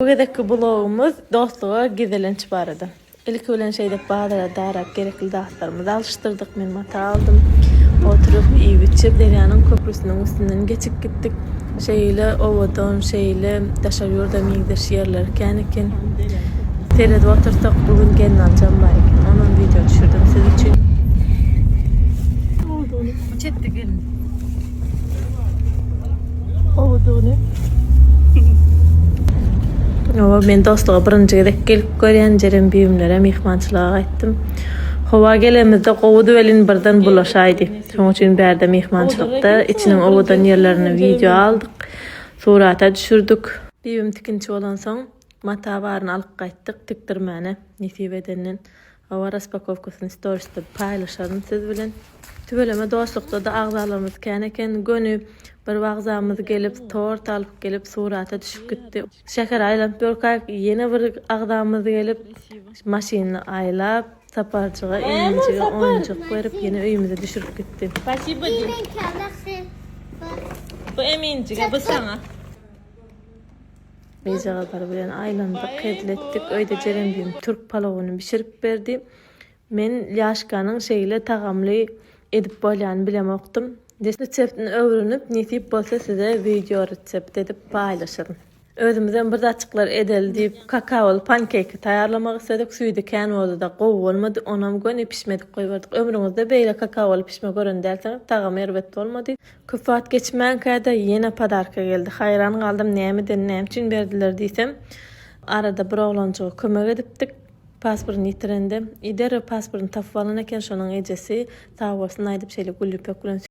Bu gezekki blogumyz dostluga gezelenç barada. Ilki bilen şeýdip bazara darap gerekli zatlarymyzy alyşdyrdyk. Men mata aldym. Oturyp iýip-içip derýanyň köprüsiniň üstünden geçip gitdik. Şeýle owadan, şeýle daşary ýurda meňzeş ýerler kän eken. Seredip otursak bu gün gelin aljam bar eken. Onam wideo düşürdim siz üçin. Çetde gelin. Owadyny. Owa, men dostluga birinji gezek gelip görýän, jerem büýümlere myhmançylyga gaýtdym. Howa gelemizde gowudy welin birden bulaşaýdy. Şoň üçin bärde myhmançylykda içiniň owadan ýerlerini wideo aldyk, surata düşürdik. Düýbüm tikinçi bolansoň, mata baryny alyp gaýtdyk, tikdirmäne nesip edenden. Hawa raspakowkasyny storisde paýlaşaryn siz bilen. Tüweleme dostlukdada agzalarymyz kän eken göni bir wagzamyz gelip tort alyp gelip surata düşüp gitdi. Şäheri aýlanyp ýörkäk ýene bir agzamyz gelip maşyny aýlap Saparjyga Eminjige oýunjak berip ýene öýümize düşürip gitdi. Spasibo diý. Bu Eminjige bu saňa. Gyzjagazlar bilen aýlandyk, hezil etdik. Öýde Jerembim türk palawyny bişirip berdi. Men lýaşkanyň şeýle tagamly edip bolýany bilemokdym. Reseptini öwrenip, nesip bolsa size wideo resept edip paýlaşaryn. Özümizem bir zatjyklar edeli diýip, kakaoly pankeki taýýarlamak isledik. Süýdi kän boldy-da, gowy bolmady. Onam göni pişmedik goýberdik. Ömrüňizde beýle kakaoly pişme gören dälsiňiz. Tagamy erbet bolmady. Köp wagt geçmänkä-de ýene podarka geldi. Haýran galdym, nämeden, näme üçin berdiler diýsem, arada bir oglanjyga kömek edipdik, pasportyny ýitirende, i derrew pasportyny tapyp alan eken, şonuň ejesi, sag bolsun aýdyp, şeýle gülli pök bilen.